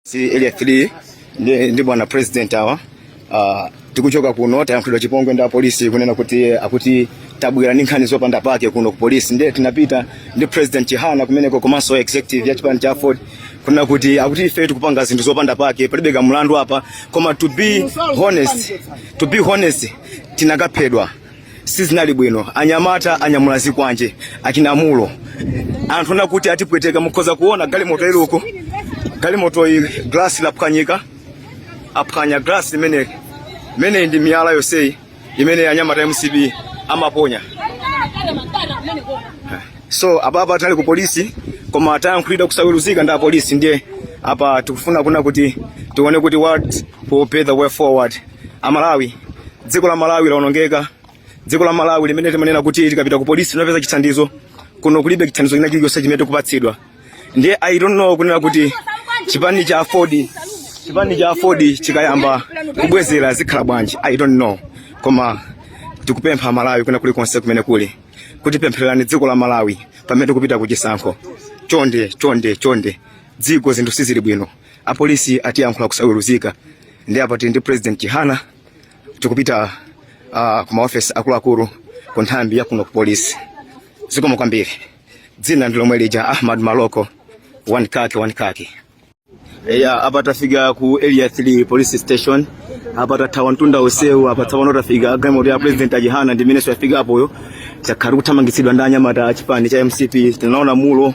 si area 3 ndi, ndi bwana president awa uh, tikuchoka kuno tayankhulidwa chipongwe ndi apolisi kunena kuti akuti tabwera ndi nkhani zopanda pake kuno ku polisi ndiye tinapita ndi president chihana kumeneko komanso executive ya chipani cha aford kunena kuti akuti ife tikupanga zinthu zopanda pake palibe kamlandu apa koma to be honest to be honest tinakaphedwa sizinali bwino anyamata anyamula zikwanje achinamulo anthu na kuti atipweteka mukhoza kuona galimoto iliko galimoto iyi glass laphwanyika aphwanya glass imene imene ndi miyala yonseyi imene anyamata a mcp amaponya so apapa tinali ku polisi koma tayankhulidwa kusaweruzika ndi apolisi ndiye apa tikufuna kunena kuti tione kuti what will be the way forward Amalawi, dziko la Malawi laonongeka. Dziko la Malawi limene timanena kuti tikapita ku polisi timapeza chithandizo, kuno kulibe chithandizo china chilichonse chimene tikupatsidwa. Ndiye I don't know kunena kuti chipani cha AFORD chipani cha AFORD chikayamba kubwezera zikhala bwanji, I don't know, koma tikupempha Amalawi kwina kulikonse kumene kuli kuti pemphererani dziko la Malawi pamene tikupita ku chisankho. Chonde chonde chonde, dziko zinthu sizili bwino, apolisi atiyankhula kusaweruzika. ndiye apa tili ndi president Chihana tikupita uh, ku maofesi akuluakulu ku nthambi ya kuno ku polisi. Zikomo kwambiri. Dzina ndi lomwe lija Ahmad Maloko one kaki one kaki. Eya, apa tafika ku area 3 police station apa tathawa mtunda wonsewu apa tsopano tafika galimoto ya president a Chihana ndi imene yafika apoyo takhala tikuthamangitsidwa ndi anyamata a chipani cha mcp tinaona mulo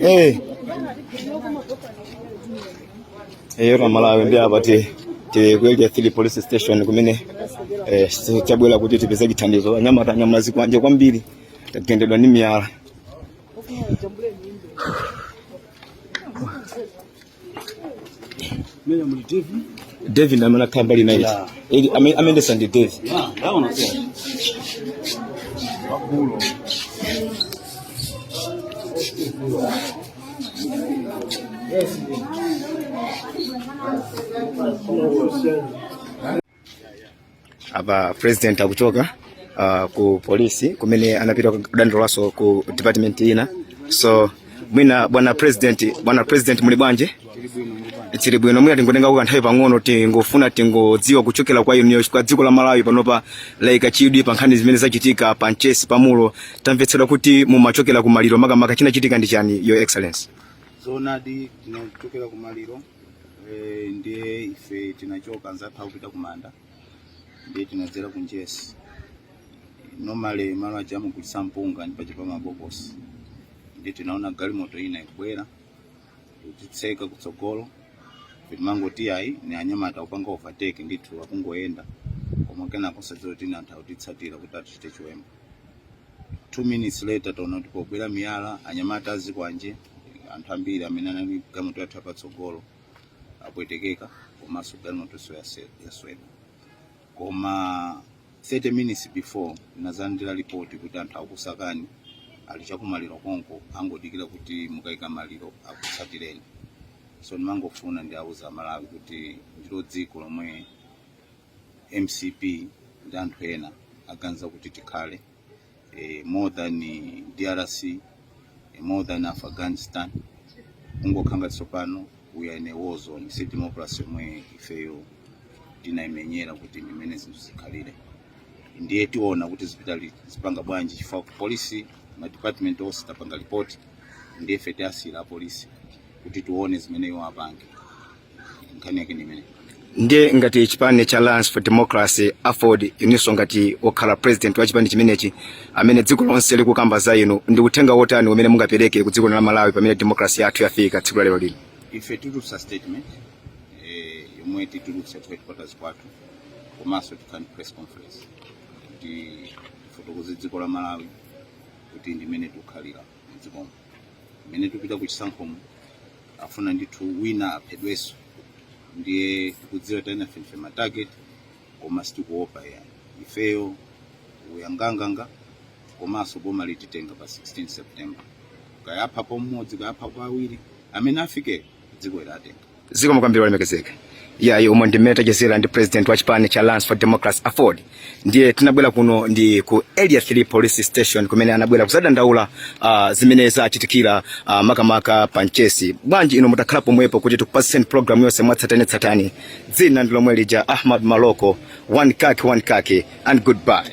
Eh. Eh, yona amalawi ndiye apa ti tili ku area 3 police station kumene eh, si- tabwera kuti tipeze chithandizo anyamata anyamula zikwanje kwambiri tagendedwa ndi miyala Menya muli TV. David amene akhala mbali naye. Yeah. Eli ame- amendesa ndi David. Yeah, ndaona pia. Wakulo. apa president akuchoka uh, ku polisi kumene anapita kudandaulaso ku department ina so mwina bwana president bwana president muli bwanji tili bwino mwina tingotengako kanthawi pang'ono tingofuna tingodziwa kuchokera kwa inuyo kwa dziko la malawi panopa laika chidwi pa nkhani zimene zachitika pa mchesi pamulo tamvetsedwa kuti mumachokera ku maliro makamaka chinachitika ndi chani your excellency zoonadi tinachokera ku maliro Eh, ndiye ife tinachoka anzathu akupita kumanda ndiye tinadzera ku mchesi normally malo aja amagulitsa mpunga ndi paja pa mabokosi ndiye tinaona galimoto ina ikubwera kutitseka kutsogolo timangoti ayi ni anyamata kupanga overtake ndithu akungoyenda koma kenako osadziwa kuti ni anthu akutitsatira kuti atichite chiwembu two minutes later taona kuti pabwera miyala anyamata azikwanje Eh, anthu ambiri amene anali galimoto yathu yapatsogolo apwetekeka komanso galimoto yase- yaswedwa koma 30 minutes before ndinazalandira lipoti kuti anthu akusakani ali chakumaliro konko angodikira kuti mukaika maliro akutsatireni so ndimangofuna ndiwauze amalawi kuti ndilo dziko lomwe mcp ndi anthu ena aganiza kuti tikhale eh, more than eh, drc eh, more than afghanistan kungokhala ngati tsopano we are in a war zone si democracy yomwe ifeyo tinaimenyera kuti ndimene zinthu zikhalire ndiye tiona kuti zipita li- zipanga bwanji chifukwa ku polisi ma department onse tapanga report ndiye ife tiwasiyira apolisi kuti tione zimene iwo apange nkhani yake nimene ndiye ngati chipani cha alliance for democracy aford ininso ngati okhala president wa chipani chimenechi amene dziko lonse likukamba za inu ndi uthenga wotani umene mungapereke ku dziko la malawi pamene demokrasi yathu yafika tsiku la lero lino ife tulutsa statement eh, yomwe titulutsa ku headquarters kwathu komanso tikhala ndi press conference kuti tifotokoze dziko la malawi kuti ndimene tikukhalira mdzikomo mmene tikupita ku chisankhomo afuna ndithu wina aphedwenso ndiye tikudziwa ena ndife matarget koma sitikuopa yani ifeyo tiyang'anayang'ana komanso boma lititenga pa 16 september kayapha pomodzi kayapha kwa awiri amene afikeyo dziko ilatenga zikomo kwambiri olemekezeka yayi umo ndimene tachezera ndi president wa chipani cha Alliance for Democracy Afford ndiye tinabwera kuno ndi ku area 3 police station kumene anabwera kuzadandaula uh, zimene zachitikira uh, makamaka pa mchesi bwanji ino mutakhala pomwepo kuti tikupatseni program yonse mwatsatanetsatane dzina ndi lomwe lija Ahmad Maloko one kaki one kaki and goodbye